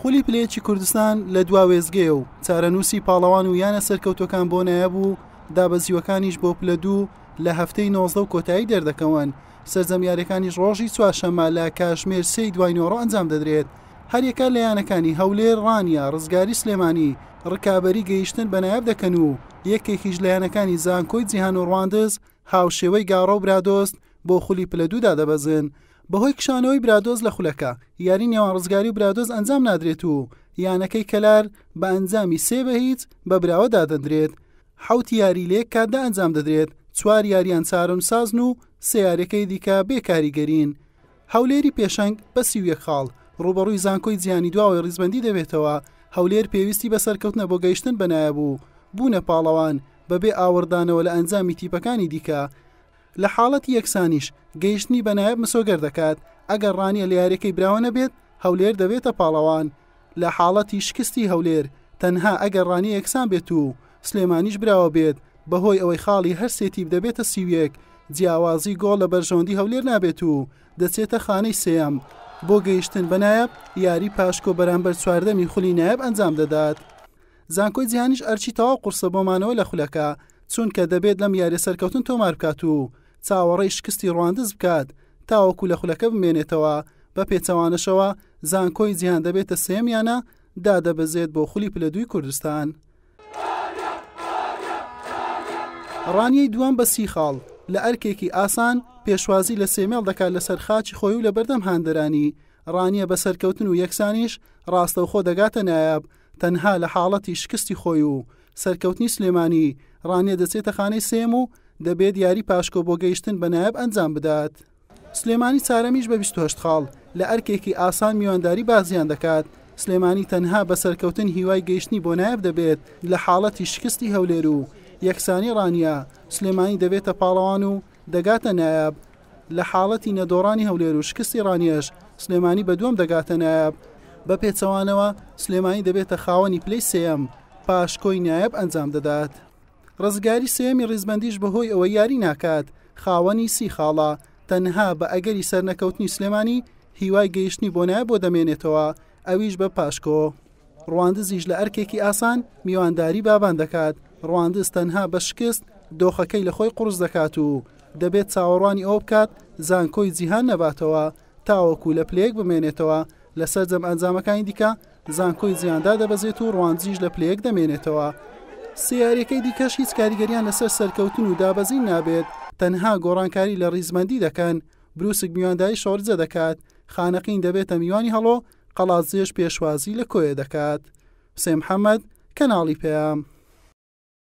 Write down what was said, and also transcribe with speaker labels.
Speaker 1: خولی پلەیەکی کوردستان لە دوا وێزگەیە و چارەنووسی پاڵەوان و یانە سەرکەوتەکان بۆ نایەب و دابەزیوەکانیش بۆ پلە دوو لە هەفتەی نۆزدە و کۆتایی دەردەکەون سەرجەمیارەکانیش ڕۆژی چوارشەمە لە کاژمێر سی دوای نۆڕۆ ئەنجام دەدرێت هەریەکە لە یانەکانی هەولێر ڕانیە ڕزگاری سلێمانی ڕکابی گەیشتن بە نایب دەکەن و یەکێکیش لە یانەکانی زانکۆی جیهان و ڕواندز هاوشێوەی گاڕە و برادۆست بۆ خولی پلە دوودا دەبەزن بەهۆی کشانەوەی برادۆز لە خولەکە، یاری نێوان ڕزگاری و برادۆز ئەنجام نادرێت و یانەکەی کەلار بە ئەنجامی سێ بە هیچ بە براوە دادەندرێت، حەوت یاری لەیەک کاتدا ئەنجام دەدرێت، چوار یاریان چارەنوسسازن و سێ یاریەکەی دیکە بێ کاریگەرین. هەولێری پێشەنگ بە سی و یەک خاڵ ڕووبەڕووی زانکۆی جیهانی دواوەی ڕیزبەندی دەبێتەوە، هەولێر پێویستی بە سەرکەوتنە بۆ گەیشتن بە نایابو بوونە پاڵەوان بەبێ ئاوڕدانەوە لە ئەنجامی تیپەکانی دیکە، لە حاڵەتی یەکسانیش گەیشتنی بە نایاب مسۆگەر دەکات، ئەگەر ڕانیە لە یاریەکەی براوە نەبێت هەولێر دەبێتە پاڵەوان، لە حاڵەتی شکستی هەولێر تەنها ئەگەر ڕانیە یەکسان بێت و سلێمانیش براوە بێت بەهۆی ئەوەی خاڵی هەر سێ تیپ دەبێتە سی و یەک جیاوازی گۆڵ لە بەرژەوەندی هەولێر نابێت و دەچێتە خانەی سێیەم بۆ گەیشتن بە نایاب، یاری پاشکۆ بەرامبەر چواردەمی خولی نایاب ئەنجام دەدات. زانکۆی جیهانیش ئەرکی تەواو قورسە بۆ مانەوە لە خولەکە، چونکە دەبێت لەم یاریە سەرکەوتن تۆمار بکات و چاوەڕێی شکستی ڕواندز بکات تاوەکو لە خولەکە بمێنێتەوە، بە پێچەوانەشەوە زانکۆی جیهان دەبێتە سێیەم یانە دادەبەزێت بۆ خولی پلە دووی کوردستان. ڕانیەی دووەم بە سی خاڵ لە ئەرکێکی ئاسان پێشوازی لە سێمێڵ دەکات لەسەر خاچی خۆی و لەبەردەم هاندەرانی، ڕانیە بە سەرکەوتن و یەکسانیش ڕاستەوخۆ دەگاتە نایاب، تەنها لە حاڵەتی شکستی خۆی و سەرکەوتنی سلێمانی، ڕانیە دەچێتە خانەی سێیەم و دەبێت یاری پاشکۆ بۆ گەیشتن بە نایاب ئەنجام بدات. سلێمانی چارەمیش بە بیست و هەشت خاڵ لە ئەرکێکی ئاسان میوانداری بازیان دەکات، سلێمانی تەنها بە سەرکەوتن هیوای گەیشتنی بۆ نایاب دەبێت لە حاڵەتی شکستی هەولێر و یەکسانی ڕانیە، سلێمانی دەبێتە پاڵەوان و دەگاتە نایاب، لە حاڵەتی نەدۆڕانی هەولێر و شکستی ڕانیەش، سلێمانی بە دووەم دەگاتە نایاب. بە پێچەوانەوە، سلێمانی دەبێتە خاوەنی پلەی سێیەم، پاشکۆی نایاب ئەنجام دەدات. ڕزگاری سێیەمی ڕیزبەندیش بەهۆی ئەوەی یاری ناکات، خاوەنی سی خاڵە، تەنها بە ئەگەری سەرنەکەوتنی سلێمانی، هیوای گەیشتنی بۆ نایاب بۆ دەمێنێتەوە، ئەویش بە پاشکۆ. ڕواندزیش لە ئەرکێکی ئاسان میوانداری بابان دەکات، ڕواندز تەنها بە شکست دۆخەکەی لە خۆی قورس دەکات و دەبێت چاوەڕوانی ئەوە بکات زانکۆی جیهان نەباتەوە تاوەکو لە پلەیەک بمێنێتەوە لە سەرجەم ئەنجامەکانی دیکە زانکۆی جیهان دادەبەزێت و ڕواندزیش لە پلەیەک دەمێنێتەوە سێ یاریەکەی دیکەش هیچ کاریگەریان لەسەر سەرکەوتن و دابەزین نابێت تەنها گۆڕانکاری لە ڕیزبەندی دەکەن برووسک میوانداری شۆڕجە دەکات، خانەقین دەبێتە میوانی هەڵۆ، قەڵادزێش پێشوازی لە کۆیە دەکات. حوسێن محەمەد، کەناڵی پەیام.